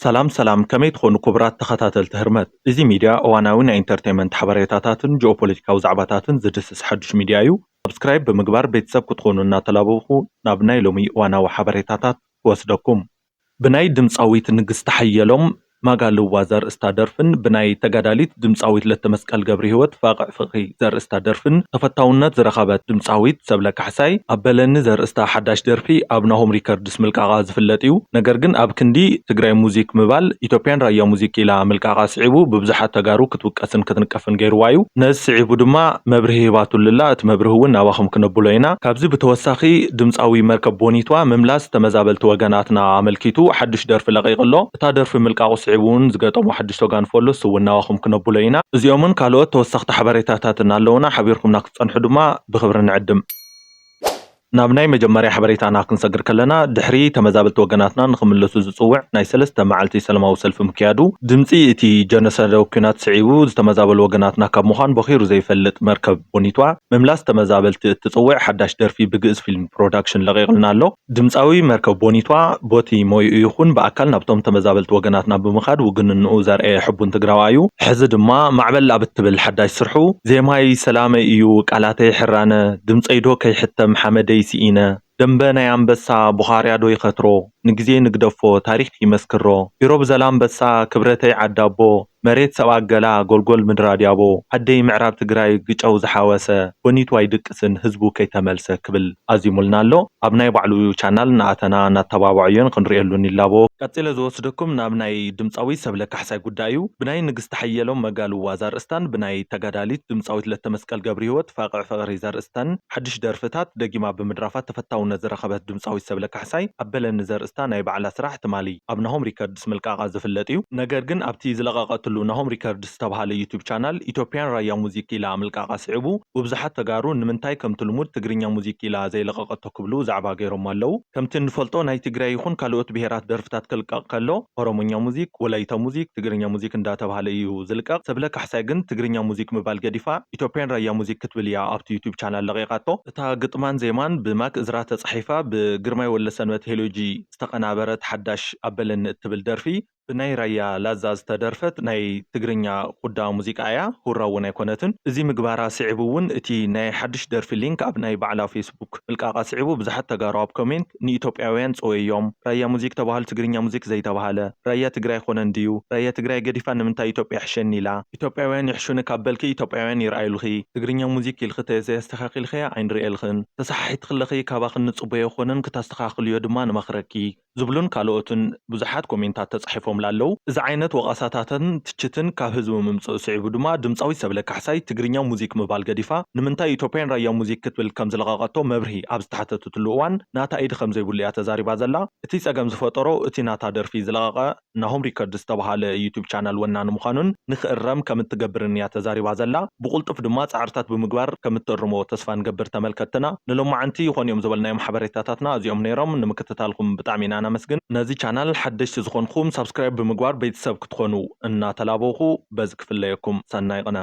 ሰላም ሰላም ከመይ ትኾኑ ኩቡራት ተኸታተልቲ ህርመት እዚ ሚድያ እዋናዊ ናይ ኢንተርተይመንት ሓበሬታታትን ጂኦፖለቲካዊ ዛዕባታትን ዝድስስ ሓዱሽ ሚድያ እዩ ሳብስክራይብ ብምግባር ቤተሰብ ክትኾኑ እናተላበብኹ ናብ ናይ ሎሚ እዋናዊ ሓበሬታታት ክወስደኩም ብናይ ድምፃዊት ንግስቲ ሓየሎም ማጋልዋ ዘርእስታ ደርፍን ብናይ ተጋዳሊት ድምጻዊት ለተመስቀል ገብሪሂወት ፋቕዕ ፍቕሪ ዘርእስታ ደርፍን ተፈታውነት ዝረኸበት ድምጻዊት ሰብለ ካሕሳይ ኣብ በለኒ ዘርእስታ ሓዳሽ ደርፊ ኣብ ናሆም ሪከርድስ ምልቃቓ ዝፍለጥ'ዩ። ነገር ግን ኣብ ክንዲ ትግራይ ሙዚክ ምባል ኢትዮጵያን ራያ ሙዚክ ኢላ ምልቃቓ ስዒቡ ብብዙሓት ተጋሩ ክትውቀስን ክትንቀፍን ገይርዋ'ዩ። ነዚ ስዒቡ ድማ መብርሂ ሂባትሉ'ላ እቲ መብርሂ'ውን ናባኹም ክነብሎ ኢና። ካብዚ ብተወሳኺ ድምጻዊ መርከብ ቦኒትዋ ምምላስ ተመዛበልቲ ወገናትና ኣመልኪቱ ሓዱሽ ደርፊ ለቒቑ'ሎ። እታ ደርፊ ምልቃቑ ስዒቡ እውን ዝገጠሞ ሓዱሽ ቶጋን ፎሎ ስውናዋኹም ክነብሎ ኢና። እዚኦምን ካልኦት ተወሰኽቲ ሓበሬታታትን ኣለዉና፣ ሓቢርኩምና ክትጸንሑ ድማ ብኽብሪ ንዕድም። ናብ ናይ መጀመርያ ሓበሬታና ክንሰግር ከለና፣ ድሕሪ ተመዛበልቲ ወገናትና ንኽምለሱ ዝጽውዕ ናይ ሰለስተ መዓልቲ ሰለማዊ ሰልፊ ምክያዱ፣ ድምጺ እቲ ጀኖሳዳዊ ኲናት ስዒቡ ዝተመዛበሉ ወገናትና ካብ ምዃን ቦኺሩ ዘይፈልጥ መርከብ ቦኒቷ፣ ምምላስ ተመዛበልቲ እትጽውዕ ሓዳሽ ደርፊ ብግእዝ ፊልም ፕሮዳክሽን ለቒቕልና ኣሎ። ድምጻዊ መርከብ ቦኒቷ ቦቲ ሞይኡ ይኹን ብኣካል ናብቶም ተመዛበልቲ ወገናትና ብምኻድ ውግንንኡ ዘርኣየ ሕቡን ትግራዋይ'ዩ። ሕዚ ድማ ማዕበል ኣብ እትብል ሓዳሽ ስርሑ፣ ዜማይ ሰላመይ እዩ፣ ቃላተይ ሕራነ፣ ድምጸይዶ ከይሕተም ሓመደይ ስኢነ፣ ደምበ ናይ ኣንበሳ ቡኻርያዶ ይኸትሮ፣ ንግዜ ንግደፎ ታሪኽ ይመስክሮ፣ ፊሮ ብዘላምበሳ ክብረተይ ዓዳቦ፣ መሬት ሰብኣ ገላ ጎልጎል ምድሪ ኣድያቦ ዓደይ ምዕራብ ትግራይ ግጨው ዝሓወሰ ቦኒቱ ኣይድቅስን ህዝቡ ከይተመልሰ ክብል ኣዚሙልና ኣሎ ኣብ ናይ ባዕሉ ቻናል እናኣተና እናተባበዐዮን ክንርእየሉን ይላቦ። ቀጺለ ዝወስደኩም ናብ ናይ ድምጻዊ ሰብለ ካሕሳይ ጉዳይ እዩ። ብናይ ንግስቲ ሓየሎም መጋልዋ ዘርእስታን ብናይ ተጋዳሊት ድምጻዊት ለተመስቀል ገብሪሂወት ፋቅዕ ፍቅሪ ዘርእስተን ሓድሽ ደርፍታት ደጊማ ብምድራፋ ተፈታውነት ዝረኸበት ድምጻዊት ሰብለ ካሕሳይ ኣብ በለኒ ዘርእስታ ናይ ባዕላ ስራሕ ትማሊ ኣብ ናሆም ሪከርድስ ኣርቲስት ምልቃቓ ዝፍለጥ እዩ። ነገር ግን ኣብቲ ዝለቐቐትሉ ናሆም ሪከርድስ ዝተብሃለ ዩቱብ ቻናል ኢትዮፕያን ራያ ሙዚክ ኢላ ምልቃቓ ስዒቡ ቡብዙሓት ተጋሩ ንምንታይ ከምቲ ልሙድ ትግርኛ ሙዚክ ኢላ ዘይለቐቐቶ ክብሉ ዛዕባ ገይሮሞ ኣለው። ከምቲ እንፈልጦ ናይ ትግራይ ይኹን ካለኦት ብሄራት ደርፍታት ክልቀቕ ከሎ ኦሮሞኛ ሙዚክ፣ ወላይታ ሙዚክ፣ ትግርኛ ሙዚክ እንዳተብሃለ እዩ ዝልቀቕ። ሰብለ ካሕሳይ ግን ትግርኛ ሙዚክ ምባል ገዲፋ ኢትዮፕያን ራያ ሙዚክ ክትብል እያ ኣብቲ ዩቱብ ቻናል ለቒቓቶ። እታ ግጥማን ዜማን ብማክ እዝራ ተፃሒፋ ብግርማይ ወልደሰንበት ሄሎጂ፣ ዝተቐናበረት ሓዳሽ ኣበለኒ እትብል ደርፊ ብናይ ራያ ላዛ ዝተደርፈት ናይ ትግርኛ ኹዳ ሙዚቃ እያ፣ ሁራ እውን ኣይኮነትን። እዚ ምግባራ ስዒቡ እውን እቲ ናይ ሓዱሽ ደርፊ ሊንክ ኣብ ናይ ባዕላ ፌስቡክ ምልቃቓ ስዒቡ ብዙሓት ተጋሩ ኣብ ኮሜንት ንኢትዮጵያውያን ጸወዮም ራያ ሙዚክ ተባሃሉ ትግርኛ ሙዚክ ዘይተባሃለ ራያ ትግራይ ኣይኾነን ድዩ ራያ ትግራይ ገዲፋ ንምንታይ ኢትዮጵያ ይሕሸኒ ኢላ ኢትዮጵያውያን ይሕሹኒ ካብ በልኪ ኢትዮጵያውያን ይርኣዩልኺ ትግርኛ ሙዚክ ኢልኺ ተዘይ ኣስተኻኺልኽያ ኣይንርእየልኽን ተሰሓሒትኺ ኣለኺ ካባኺ እንጽበዮ ኣይኾነን ክታስተኻኽልዮ ድማ ንመኽረኪ ዝብሉን ካልኦትን ብዙሓት ኮሜንታት ተጻሒፎምላ ኣለዉ እዚ ዓይነት ወቐሳታትን ትችትን ካብ ህዝቢ ምምጽኡ ስዒቡ ድማ ድምጻዊት ሰብለ ካሕሳይ ትግርኛ ሙዚክ ምባል ገዲፋ ንምንታይ ኢትዮጵያን ራያ ሙዚክ ክትብል ከምዝለቐቐቶ መብርሂ ኣብ ዝተሓተተትሉ እዋን ናታ ኢድ ከምዘይብሉ እያ ተዛሪባ ዘላ እቲ ጸገም ዝፈጠሮ እቲ ናታ ደርፊ ዝለቐቐ ናሆም ሪከርድ ዝተብሃለ ዩቱብ ቻናል ወናኒ ምዃኑን ንክእረም ከምትገብርን እያ ተዛሪባ ዘላ። ብቑልጡፍ ድማ ፃዕርታት ብምግባር ከምትእርሞ ተስፋ ንገብር ተመልከትትና። ንሎማዓንቲ ይኾኑ እዮም ዝበልናዮም ሓበሬታታትና እዚኦም ነይሮም። ንምክትታልኩም ብጣዕሚ ኢና ነመስግን። ነዚ ቻናል ሓደሽቲ ዝኾንኹም ሳብስክራይብ ብምግባር ቤተሰብ ክትኾኑ እናተላበውኹ በዚ ክፍለየኩም። ሰናይ ቕነ።